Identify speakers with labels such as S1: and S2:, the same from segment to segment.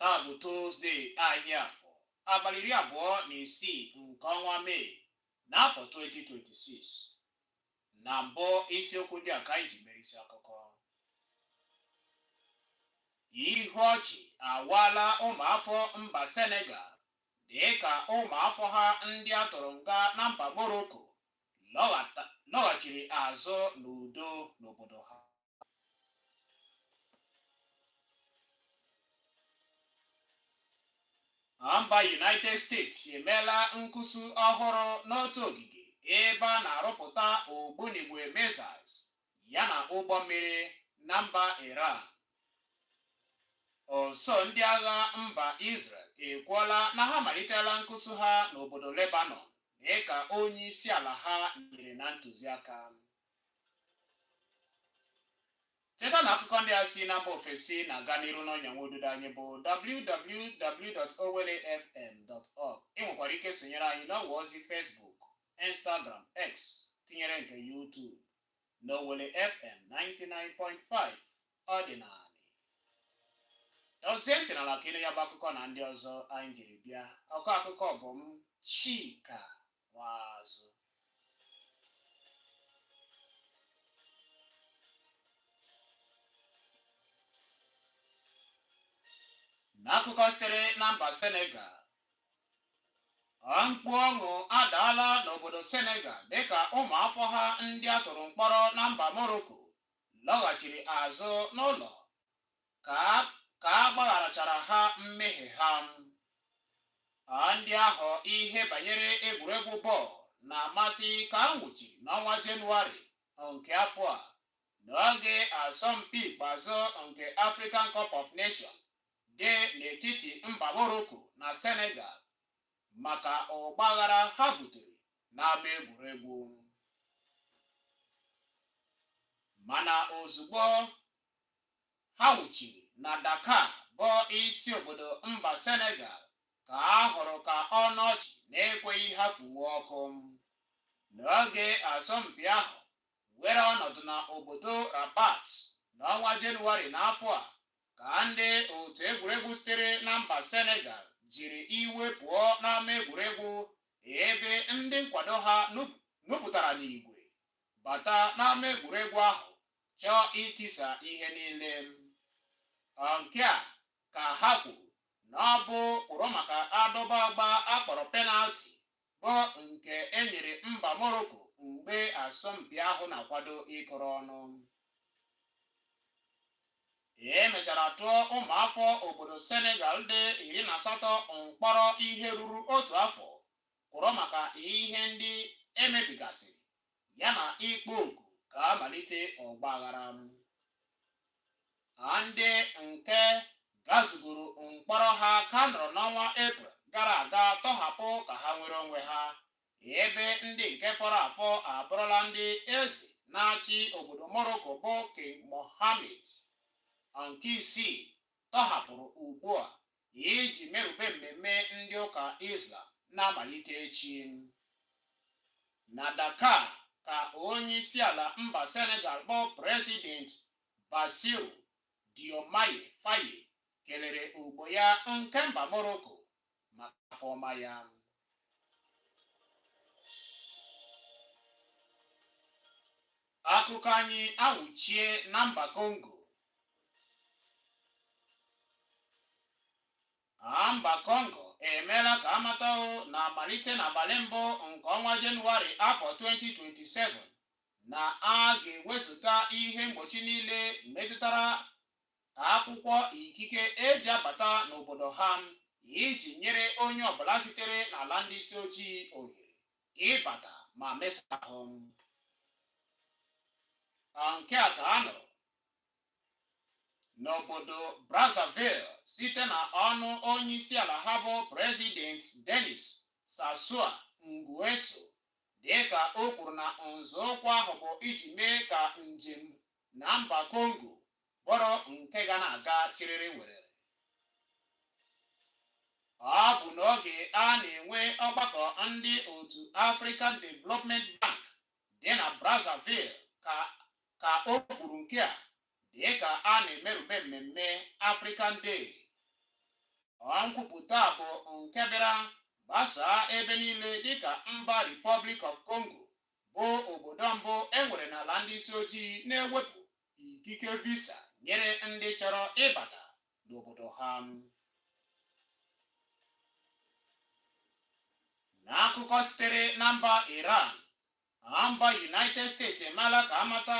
S1: Taa bụ Tuzdee ahịa afọ abalị iri abụọ na isii nke ọnwa Mee n'afọ 2026. Na mbụ isiokwu ndị a ka anyị ji mere isi akụkọ. Ihu ọchị awaala ụmụafọ mba Senegal dịka ụmụafọ ha ndị a tụrụ nga na mba Morocco lọghata- lọghachiri azụ n'udo n'obodo ha. mba United States emeela nkusu ọhụrụ n'otu ogige ebe a na-arụpụta ogbunigwe missiles yana ụgbọ mmiri na mba Iran. Usuu ndị agha mba Israel ekwuola na ha malitela nkusu ha n'obodo Lebanon dịka onye isi ala ha nyere na ntụziaka. cheta na akụkọ ndị a si na mba ofesi na-aga n'iru n'ọnya nwa ududo anyị bụ www.owellefm.org ị nwekwara ike sonyere anyị n'ọwa ozi Facebook Instagram X tinyere nke YouTube n'Owelle FM 99.5 ọ dị na dozie ntị n'ala ka ị nụ ya bụ akụkọ na ndị ọzọ anyị jiri bịa ọkọ akụkọ bụ m Chika Nwaazụ. N'akụkọ sitere na mba Senegal, mkpu ọṅụ adaala n'obodo Senegal dịka ụmụafọ ha ndị a tụrụ mkpọrọ na mba Morocco lọghachiri azụ n'ụlọ ka a gbagharachara ha mmehie ha. A Ndị ahụ ihe banyere egwuregwu bọọlụ na-amasị ka a nwụchiri n'ọnwa Jenụwarị nke afọ a n'oge asọmpi ikpeazụ nke African Cup of Nations dị n'etiti mba Morocco na Senegal maka ọgbaghara ha butere n'ama egwuregwu. Mana ozugbo ha wuchiri na Dakar bụ isi obodo mba Senegal ka a hụrụ ka ọnụ ọchị na-ekweghị ha fụnwuo ọkụ n'oge asọmpi ahụ were ọnọdụ na obodo Rabat n'ọnwa Jenụwarị n'afọ a ka ndị otu egwuregwu sitere na mba Senegal jiri iwe pụọ n'ama egwuregwu ebe ndị nkwado ha nupụtara n'igwe bata n'ama egwuregwu ahụ chọọ itisa ihe niile nke a ka ha kwuru na ọ bụ kwụrụ maka adọba agba a kpọrọ penalti bụ nke e nyere mba Morocco mgbe asọmpi ahụ na-akwado ịkụrụ ọnụ e mechara tụọ ụmụafọ obodo Senegal dị iri na asatọ mkpọrọ ihe ruru otu afọ kwụrụ maka ihe ndị e mebigasị ya na ịkpọ oku ka a malite ọgba aghara a ndị nke gazugoro mkpọrọ ha ka nọrọ n'ọnwa eprel gara aga tọhapụ ka ha nwere onwe ha ebe ndị nke fọrọ afọ abụrụla ndị eze na-achị obodo morocco bụ king mohammed nke isii tọhapụrụ ugbu a iji merube mmemme ndị ụka Islam na-amalite echi. Na Dakar ka onyeisiala mba Senegal bụ President Bassirou Diomaye Faye kelere ogbo ya nke mba Morocco maka afọ ọma ya. Akụkọ anyị awụchie na mba Kongo. A mba Kongo emeela ka a mata o na a malite n'abalị mbụ nke ọnwa Jenụwarị afọ 2027 na a ga-ewezụga ihe mgbochi niile metụtara akwụkwọ ikike e ji abata n'obodo ha iji nyere onye ọbụla sitere n'ala ndị isi ojii ohere ịbata ma mesa ahụ nke a ka a nụrụ n'obodo Brazzaville site na ọnụ onye isi ala ha bụ President Denis Sassou Nguesso dịka o kwuru na nzọụkwụ ahụ bụ iji mee ka njem na mba Congo bụrụ nke ga na-aga chịrịrị werere. Ọ bụ n'oge a na-enwe ọgbakọ ndị otu African Development Bank dị na Brazzaville ka o kwuru nke a dịka a na-emerube mmemme African Day. Ọ nkwupụta a bụ nke bịara gbasaa ebe niile dịka mba Republic of Congo bụ obodo mbụ e nwere n'ala ndị isi ojii na-ewepụ ikike visa nyere ndị chọrọ ịbata n'obodo ha n'akụkọ sitere na mba Iran mba United States emeela ka a mata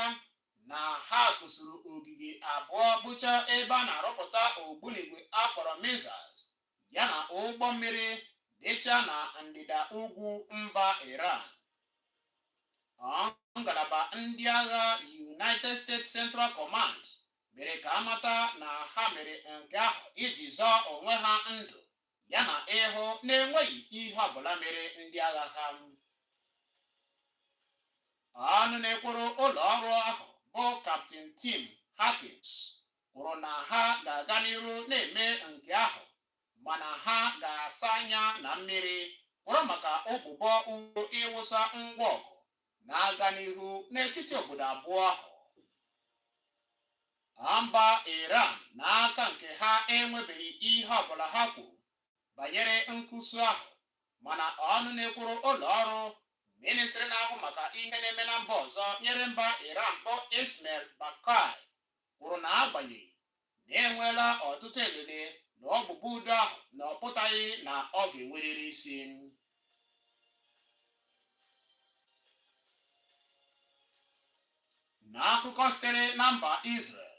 S1: na ha kụsuru ogige abụọ bụcha ebe a na-arụpụta ogbunigwe a kpọrọ missiles ya na ụgbọ mmiri dịcha na ndịda ugwu mba Iran ngalaba ndị agha United States Central Command mere ka amata na ha mere nke ahụ iji zọọ onwe ha ndụ ya na ịhụ na-enweghị ihe ọbụla mere ndị agha ha ọnụ na-ekwuru ụlọ ọrụ ahụ bụ Captain Tim Hawkins kwuru na ha ga-aga n'ihu na-eme nke ahụ mana ha ga-asa anya na mmiri kwụrụ maka ụbụbọ udo ịwụsa ngwa ọgụ na-aga n'ihu n'etiti obodo abụọ ahụ mba Iran n'aka nke ha enwebeghị ihe ọbụla ha kwuru banyere nkụsu ahụ mana ọnụ na-ekwuru ụlọ ọrụ ministri na-ahụ maka ihe na-eme na mba ọzọ nyere mba Iran bụ Esmail Baqai kwuru na agbanyeghị na enweela ọtụtụ elele na ụbụbọ udo ahụ na ọ pụtaghị na ọ ga-enwerịrị isi n'akụkọ sitere na mba Israel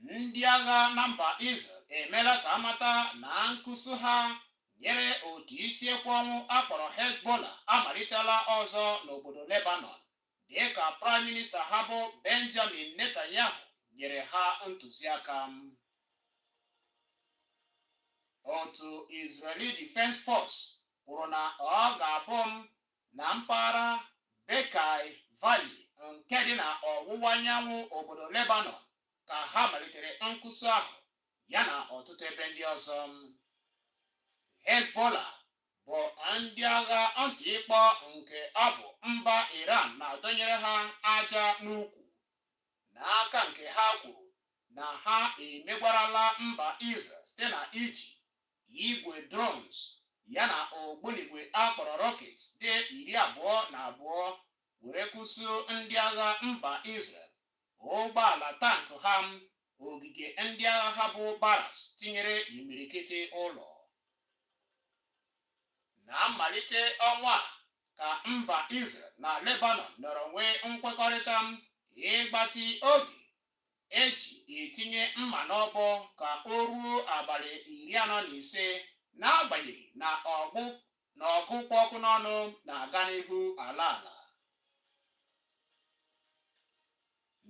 S1: ndị agha na mba Israel emeela ka amata na nkụsu ha nyere otu isi ekwe ọnwụ a kpọrọ Hezbollah amalitela ọzọ n'obodo Lebanon dịka Praịm Minista ha bụ Benjamin Netanyahu nyere ha ntụziaka. Otu Israeli Defense Force kwuru na ọ ga-abụ na mpaghara Bekaa Valley nke dị na ọwụwa anyanwụ obodo Lebanon ka ha malitere nkụsu ahụ yana ọtụtụ ebe ndị ọzọ. Hezbollah bụ ndị agha ntị ịkpọ nke ọ bụ mba Iran na-adọnyere ha aja n'ukwu n'aka nke ha kwuru na ha emegwarala mba Israel site na iji igwe drones yana ogbunigwe a kpọrọ rockets dị iri abụọ na abụọ were kụsuo ndị agha mba Israel ụgbọala tank ha, ogige ndị agha ha bụ barracks tinyere imirikiti ụlọ. Na mmalite ọnwa a ka mba Israel na Lebanon nọrọ nwee nkwekọrịta ịgbatị oge e ji etinye mma n'ọbọ ka o ruo abalị iri anọ na ise n'agbanyeghị na ọgụ na ọgụ kpụ ọkụ n'ọnụ na-aga n'ihu ala ala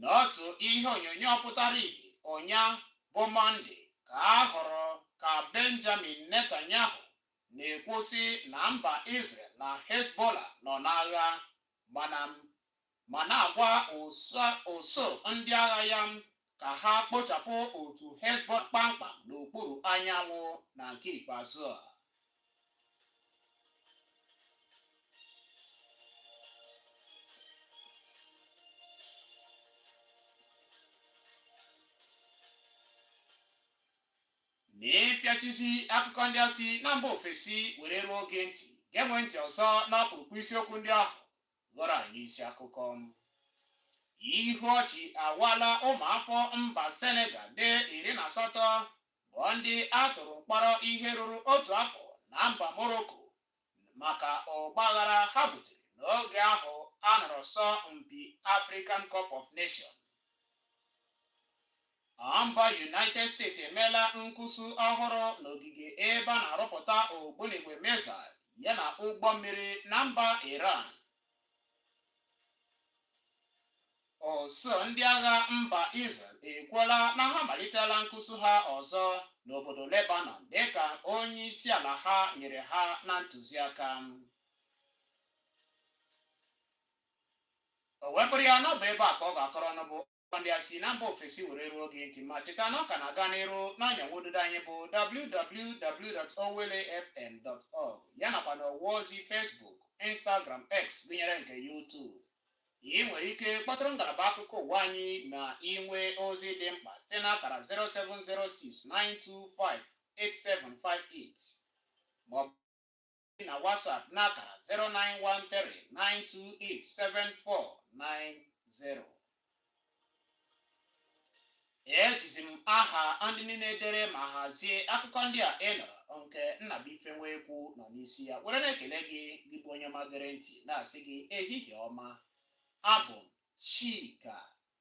S1: n'otu ihe onyonyo pụtara ihe ụnya bụ mọnde ka a hụrụ ka benjamin netanyahu na-ekwu sị na mba israel na hezbollah nọ n'agha mana ma na-agwa usuu ndị agha ya ka ha kpochapụ otu Hezbollah kpamkpam n'okpuru anyanwụ na nke ikpeazụ a. N'ịpịachisi akụkọ ndị a si na mba ofesi were ruo gị ntị, geewe ntị ọzọ n'ọkpụrụkpụ isiokwu ndị ahụ ghọrọ anyị isi akụkọ. Ihu ọchị awaala ụmụafọ mba Senegal dị iri na asatọ bụ ndị a tụrụ mkpọrọ ihe ruru otu afọ na mba Morocco maka ọgbaghara ha butere n'oge ahụ a nọrọ asọ mpi African Cup of Nation. Mba United States emeela mbuso ọhụrụ n'ogige ebe a na-arụpụta ogbunigwe missile yana ụgbọ mmiri na mba Iran. Usuu ndị agha mba Israel ekwuola na ha malitela mbuso ha ọzọ n'obodo Lebanon dịka onye isi ala ha nyere ha na ntụziaka. O wee bụrụ ya na ọ bụ ebe a ka ọ ga-akọrọ ọnụ bụ ndị a si na mba ofesi were ruo gị ntị ma cheta na ọ ka na-aga n'iru n'ọnya nwududo anyị bụ www.owellefm.org ya nakwa na ọwa ozi Facebook Instagram X gụnyere nke YouTube ị nwere ike kpọtụrụ ngalaba akụkọ ụwa anyị ma ị nwee ozi dị mkpa site n'akara 07069258758 ma ọ bụ na WhatsApp n'akara 09139287490 ejizi m aha ndị niile dere ma hazie akụkọ ndị a ị nụrụ nke Nnabuife Nwekwu nọ n'isi ya were na-ekele gị gị bụ onye ọma gere ntị na-asị gị ehihie ọma abụ m Chika